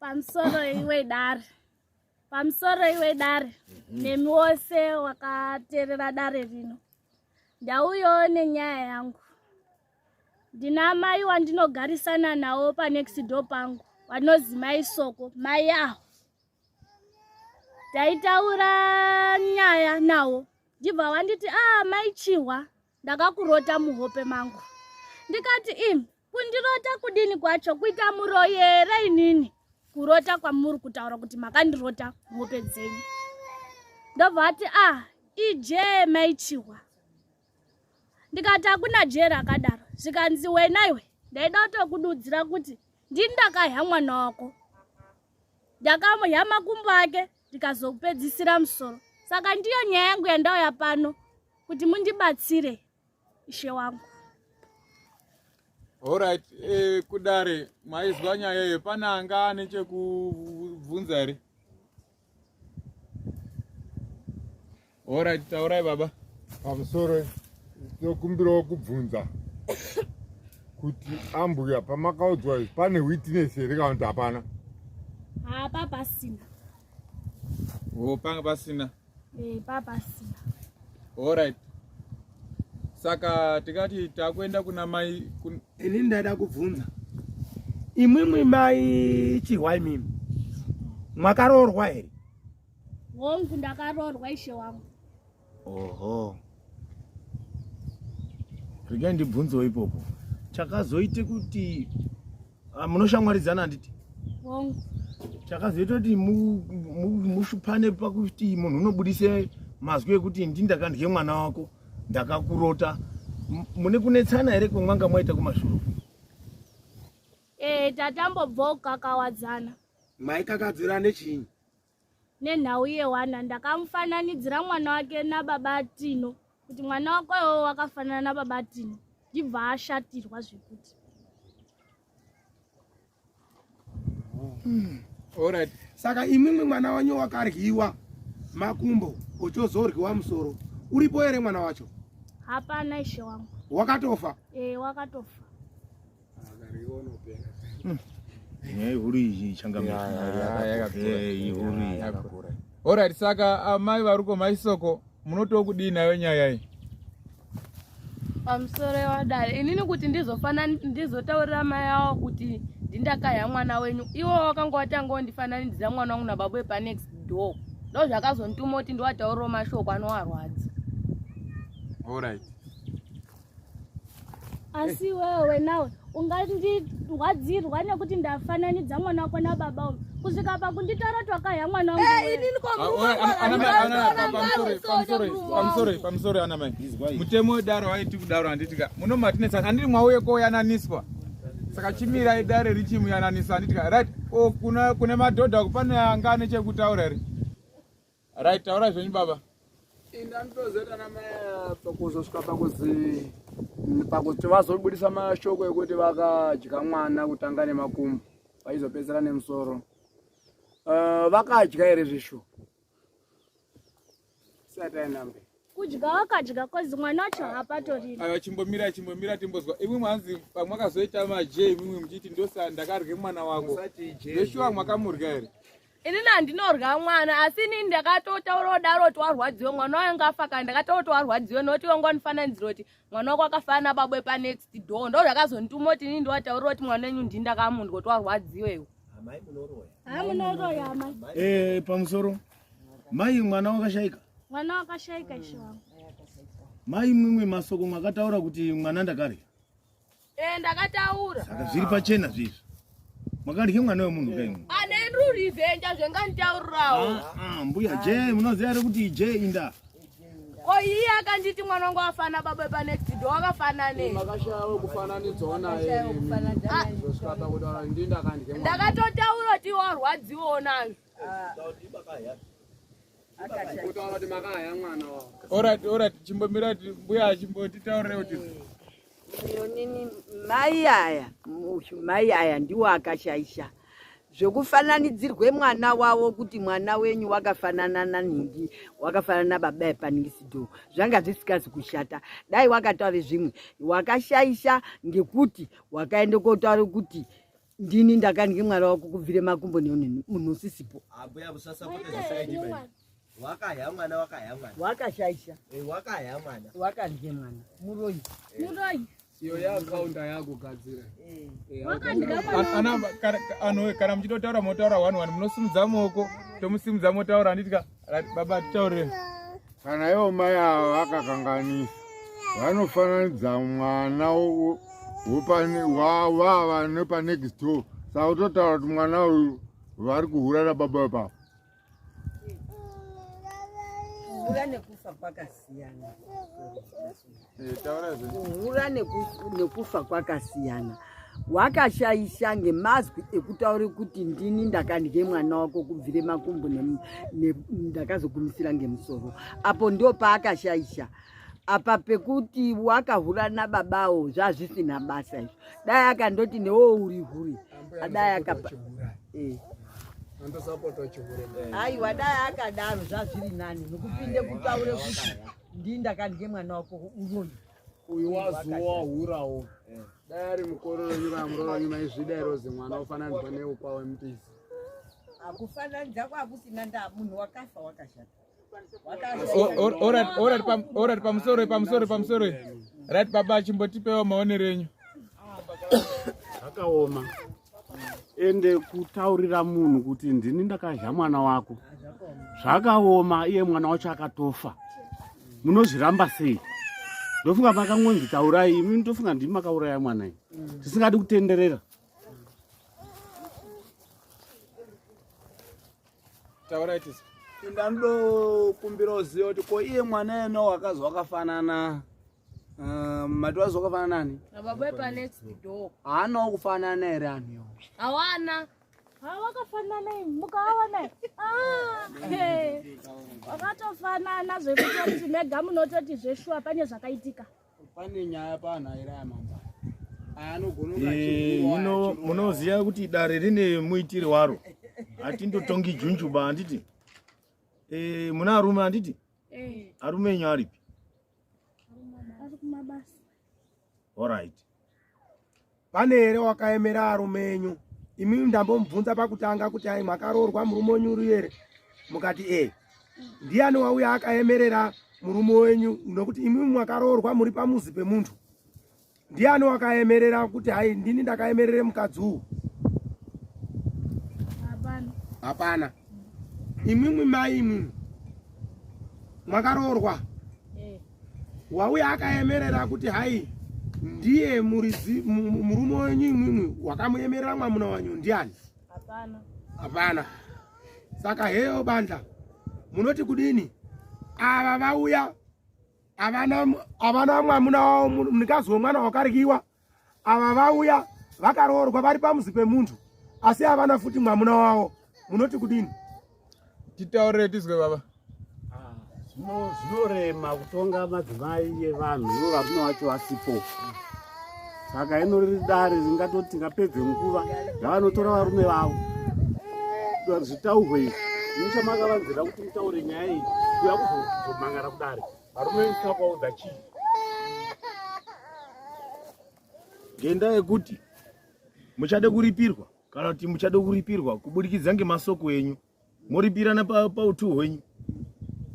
pamusoro iwe dare pamusoro iwe dare mhm. nemi wose wakateerera dare rino ndauyawo nenyaya yangu ndina mai wandinogarisana nawo panext door pangu vanozi mai soko mai aho taitaura nyaya nawo ndibva wanditi a ah, mai chihwa ndakakurota muhope mangu ndikati im kundirota kudini kwacho kuita muroyi here inini kurota kwamuri kutaura kuti makandirota muhope dzenyu ndobva ati a ah, ije maichihwa ndikati hakuna jee rakadaro zvikanzi wena iwe ndaida kutokududzira kuti ndini ndakahya mwana wako ndakamuhya makumbo ake ndikazopedzisira musoro saka ndiyo nyaya yangu yandauya pano kuti mundibatsire ishe wangu orit eh, kudare maizwa nyaya iyo pane anga ane chekubvunza here Alright, taurai baba. Pamusoro tokumbirawo kubvunza kuti ambuya pamakaudzwa pane witness here kana kuti hapana? Hapa pasina. Oh, panga pasina. Eh, pa pasina. Alright. Saka tikati takuenda kuna mai kun... ini ndaida kubvunza imwimwi mai chihwa imimi mwakaroorwa here hongu ndakaroorwa ishe wangu oho regai ndibvunzewo ipopo chakazoite kuti ah, munoshamwaridzana handiti hongu chakazoita kuti mu- mu- mushupane pakuti munhu unobudise mazwi ekuti ndi ndakandye mwana wako ndakakurota M- mune kunetsana here kwemwanga mwaita kumashure ee tatambobvawo kukakawadzana maikakadzirane chinyi Nenhau yewana ndakamufananidzira mwana wake nababa Tino kuti mwana wako iwowo wakafanana nababa Tino ndibva ashatirwa zvekuti hmm. Alright. Saka imwimwi mwana wanyu wakaryiwa makumbo ochozoryiwa musoro uripo here mwana wacho? Hapana ishe wangu. Wakatofa? Eh, wakatofa. Alright, saka amai ah, varuko maisoko munotiwo kudii nayo nyaya iyi? Pamusoro yewadare inini kuti ndizofana ndizotaurira mai awo kuti ndindakaya mwana wenyu iwo wakanga watanga wandifananidzira mwana wangu nababa wepanext door ndo zvakazondituma kuti ndiwatauriro mashoko anowarwadza. Alright. asi wewe nawe ungandirwadzirwa nekuti ndafananidza mwana wako nababa uyu kusvika pakunditora twakaya mwana wangupamusori ana mai mutemo wedaro waiti kudaro handitika muno matinetsana handiri mwauye koyananiswa saka chimirai dare richimuyananisa handitika right o oh, kune madhodha kupane anga ane chekutaura here Right, taurai zvenyu baba. Indanitozeta namaya pakuzosvika pakuzi pakuti vazobudisa mashoko ekuti vakadya mwana kutanga nemakumbo vaizopedzera nemusoro. Uh, vakadya here zvishu? Satainambe. kudya wakadya kozi mwana wacho hapatoriri aya chimbomira chimbomira timbozwa imwe mwanzi pamwe akazoita maje imwimwe muchiti ndosa ndakarye mwana wako veshuwa mwakamurya here inini handinorya mwana asi inini ndakatotaura kudaro kuti warwadziwe mwana wayo ngafa kana ndakataura kuti warwadziwe nokuti wanga wanifananidzira kuti mwana wako akafana nababwe panext door ndo zvakazondituma kuti inini ndiwataurira kuti mwana wenyu ndini ndakamundwa kuti warwadziwe iwe eh, pamusoro Mai mwana wakashaika. Mwana wakashaika ishe wangu. Mai mimwe masoko makataura kuti mwana ndakarya. Eh ndakataura. Saka zviri pachena zvizvi. Makarya mwana wemunhu kai mwana. Ane ah, ndru revenge zvenganitaurawo. Ah, ah mbuya J munoziva here kuti J inda. Ko iye akanditi mwana wangu afana baba pa next door wakafana ne. Makashawo kufananidzwa naye. Ndakatotaura kuti warwadziwa nazvo. Alright, alright, chimbomira mbuya achimboti taurire kuti Yonini mai aya mai aya ndiwo akashaisha zvekufananidzirwe mwana wavo kuti mwana wenyu wakafanana nanhingi wakafanana nababa epaningisido zvanga zvisikazi kushata dai wakataure zvimwe wakashaisha ngekuti wakaenda kotaura kuti ndini ndakange mwari wako kubvire makumbo neunhu munhu usisipo abuya busasa kutezasaidiba wakahya mwana wakahya mwana wakashaisha eh, wakahya mwana wakandye mwana muroyi eh. muroyi iyo yaakaunda yakugadzira eh. kana muchitotaura motaura one one munosimudza moko tomusimudza motaura anditika Baba titaure. Kana ivo mai ava vakakanganisa vanofananidza mwana wavava nepanext door saka utotaura kuti mwana uyu vari kuhura nababa wepapa kuhura nekufa kwakasiyana kuhura nekufa kwakasiyana wakashaisha ngemazwi ekutaura kuti ndini ndakandye mwana wako kubvire makumbo ndakazogumisira ngemusoro apo ndo paakashaisha apa pekuti wakahura nababawo zvazvisina basa izvo dai akandoti newo uri huri adai akapa eh. aiwa dai akadaro zvazviri nani nokupinde kutaure kuti Ndii ndakandye mwana wako unoyu. Uyu wazuwa hurawo. Eh. Dai ari mukororo nyika muroro nyima izvida irozi mwana ofananidza neukwa wemupisi. Akufananidza kwakusina ndaa munhu wakafa wakashata. Orati pamusoro pamusoro pamusoro. Right baba chimbotipewo maonero enyu. Akaoma. ende kutaurira munhu kuti ndini ndakazha mwana wako zvakaoma iye mwana wacho akatofa munozviramba sei ndofunga makangonzi taurai imi ndofunga ndimi makauraya mwana iyi tisingadi kutenderera Taurai tisi. Ndando kumbira uziva kuti ko iye mwana yena wakazi wakafanana uh, mati wazi wakafanana nani? Baba pa next door. Haana kufanana here anhu yo? Hawana. Hawakafanana ah, mukaona. Ah. Wakatofanana zvekuti mega munototi zveshuwa pane zvakaitika. pane nyaya panhaira yamambara muno munoziva kuti dare rine muitiri waro hatindotongi junjuba handiti e, muna arume handiti arume enyu aripi orit pane here wakaemera arume enyu imi ndambomubvunza pakutanga kuti ai makaroorwa murume wenyu uri here mukati e ndiyani wauya akaemerera murume wenyu nokuti imi mwakaroorwa muri pamuzi pemunhu ndiyani wakaemerera kuti hai ndini ndakaemerere mukadzi uwu hapana imwimwi mai imwimwi mwakaroorwa wauya akaemerera kuti hai ndiye muridzi murume wenyu imwimwi wakamuemerera mwamuna wanyu ndiani hapana hapana saka heyo bandla munoti kudini ava vauya avana mwamuna wavo mnikazi wemwana wakarikiwa ava vauya vakaroorwa vari pamuzi pemunhu asi havana futi mwamuna wavo munoti kudini titaurire tizwe baba ah, zvinorema kutonga madzimai evanhu ivo varume vacho vasipo saka ino riri dare ringatoti ngapedze nguva yavanotora varume vavo zvitaurwe izvi nechamakavanzira kuti mutaure nyaya iyi kuya kuzomangara kudare Varume ndisina kuvaudza chii. Ngenda yekuti muchade kuripirwa kana kuti muchade kuripirwa kuburikidza ngemasoko enyu moripirana pautu hwenyu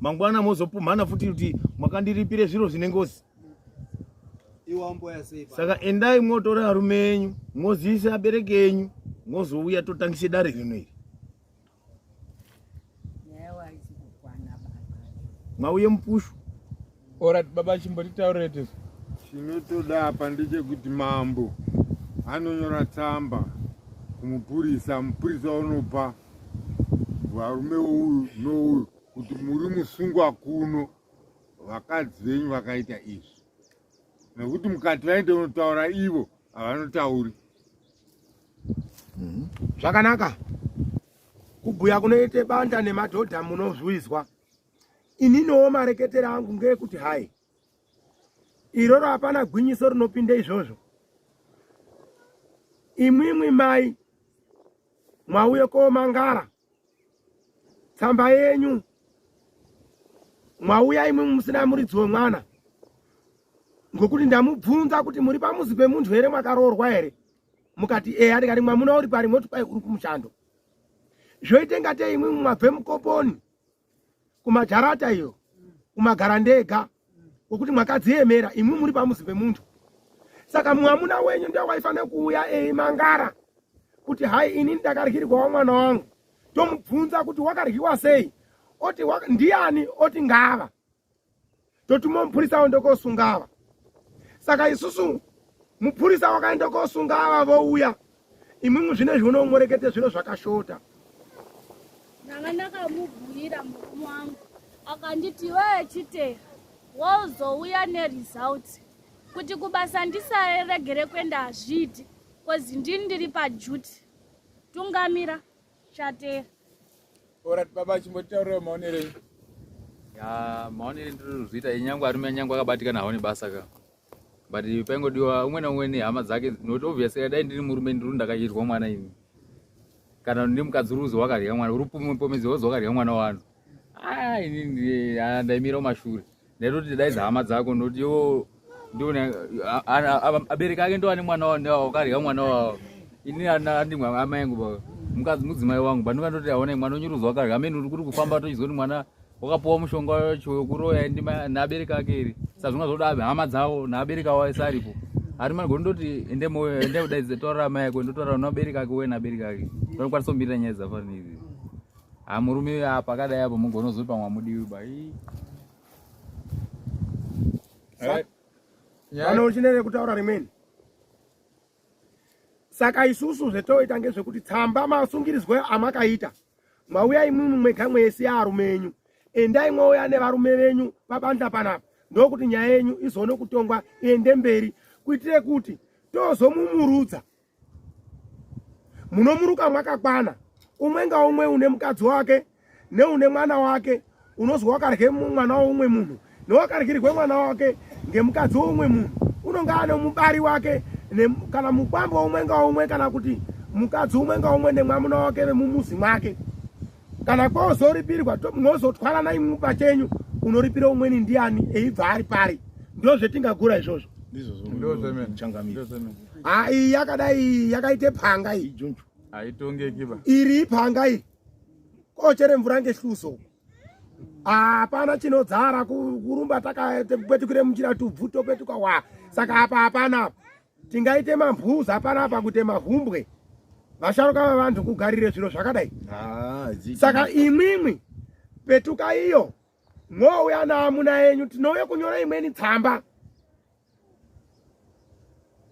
mangwana mozopumhana futi kuti mwakandiripire zviro zvine ngozi saka endai mwotora arume enyu mwoziise abereki enyu mwozouya totangise dare rino iri mauye mupushu orat baba chimbotitaurete chinotoda apa ndechekuti mambo anonyora tsamba kumupurisa mupurisa unopa varume uyu nouyu kuti muri musungwa kuno vakadzi venyu vakaita izvi nekuti mukati vaende unotaura ivo havanotauri mhm. zvakanaka kubhuya kunoite banda nemadhodha munozwizwa ininowo mareketero angu ngeekuti hai iroro hapana gwinyiso rinopinda izvozvo imwimwi mai mwauye komangara tsamba yenyu mwauya imwe musina muridzi wemwana ngokuti ndamubvunza kuti muri pamuzi pemunhu here mwakaroorwa here mukati eya ndikati mwamuna uri pari moti kwai uri kumushando zvoite ngatei imwe mwabve mukoponi kumajarata iyo kumagara ndega wokuti mwakadziemera imwi muri pamuzi pemuntu saka mwamuna wenyu ndiye waifanira kuuya eimangara kuti hai ini ndakaryirwawo mwana wangu tomubvunza kuti wakaryiwa sei oti ndiani oti ngava totuma mupurisa aende kosunga ava saka isusu mupurisa wakaenda kosunga ava vouya imwimwi zvino izvi unomwerekete zviro zvakashota ndanga ndakamubhuira murume wangu akanditi wee chitera wozouya neresults kuti kubasa ndisaregere kuenda hazviiti kozi ndini ndiri pajuti tungamira chatera orat baba chimbotaurira maonero enyu ya maonero endirikuzviita nyangwe arume nyangwe akabatikana haone basa ka but paingodiwa umwe naumwe nehama dzake not obviously dai ndiri murume ndiri ndakayirwa mwana ini kana ndi mukadzi uri uzi wakarya mwana uri pomedzi wozi wakarya mwana wanu ah, ndaimira kumashure Nekuti daidza hama dzako nekuti iwo ndione abereki ake ndo ane mwana wao ndiwo wakarya mwana wao ini andimwe amai angu baba mukadzi mudzimai wangu bani vandoti aona mwana unyuruzi wakarya amene uri kuri kufamba tochizwa kuti mwana wakapuwa mushonga wacho wekuroya naabereki ake iri sazvinga zvoda hama dzavo naabereki avo ese aripo ari mani gondoti ende kudaidza taurira amai ako ndotaurira nabereki ake uye nabereki ake vanokwanisa kumirira nyaya dzafanira Ah murume uyu apa akadai apo mugonozopa mwamudiwi bai. Alright. Vana uchinene kutaura rimweni. Saka isusu zvetoita ngezvekuti tsamba masungirizwe amakaita mauya imwimwi mwega mwese arume enyu endai mwouya nevarume venyu pabanda panapa ndokuti nyaya yenyu izoone kutongwa iende mberi kuitire kuti tozomumurudza munomuruka mwakakwana umwe ngaumwe une mukadzi wake neune mwana wake unozwa wakarye mwana weumwe munhu newakaryirwe mwana wake ngemukadzi weumwe munhu unonge ane mubari wake kana mukwambo umwe ngaumwe kana kuti mukadzi umwe ngaumwe nemwamuna wake vemumuzi mwake kana kwozoripirwa to munozotwarana imwe pachenyu unoripira umweni ndiani eibva ari pari ndo zvetingagura izvozvo ai yakadai yakaite panga iyi iri ipanga iyi kochere mvura ngehluso hapana chinodzara kurumba takakwetukire muchira tubvu topetuka wa saka apa hapana apa tingaite mambhuza panapa kuti mahumbwe vasharuka vavanhu kugarire zviro zvakadai ah, saka imwimwi petuka iyo mwouya naamuna yenyu tinouye kunyora imweni tsamba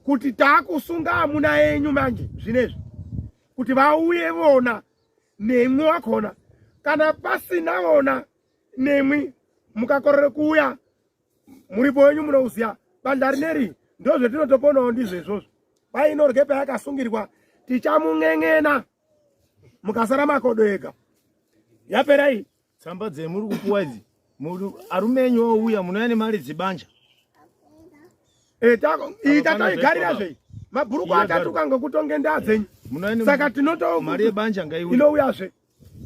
kuti taakusunga amuna yenyu manje zvinezvi kuti vauye vona nemwi wakona kana pasina vona nemwi mukakorere kuuya muripo wenyu munouzia bandla rineri ndozvetinotoponawo ndizvo izvozvo pai inorye payakasungirwa tichamun'en'ena mukasara makodo ega yapera iyi tsamba dzemuri kupuwa idzi arume enyu ouya munouya nemari dzibanja eh, iyi tatoigarira zvei mabhuruku atatuka ngokutonge ndaa dzenyu saka tinotoinouya zve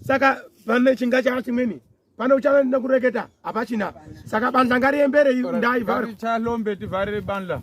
saka pane chinga chava chimweni pane uchava ndina kureketa hapachina saka bandla ngariembere ndai vharitichalombe tivharire bandla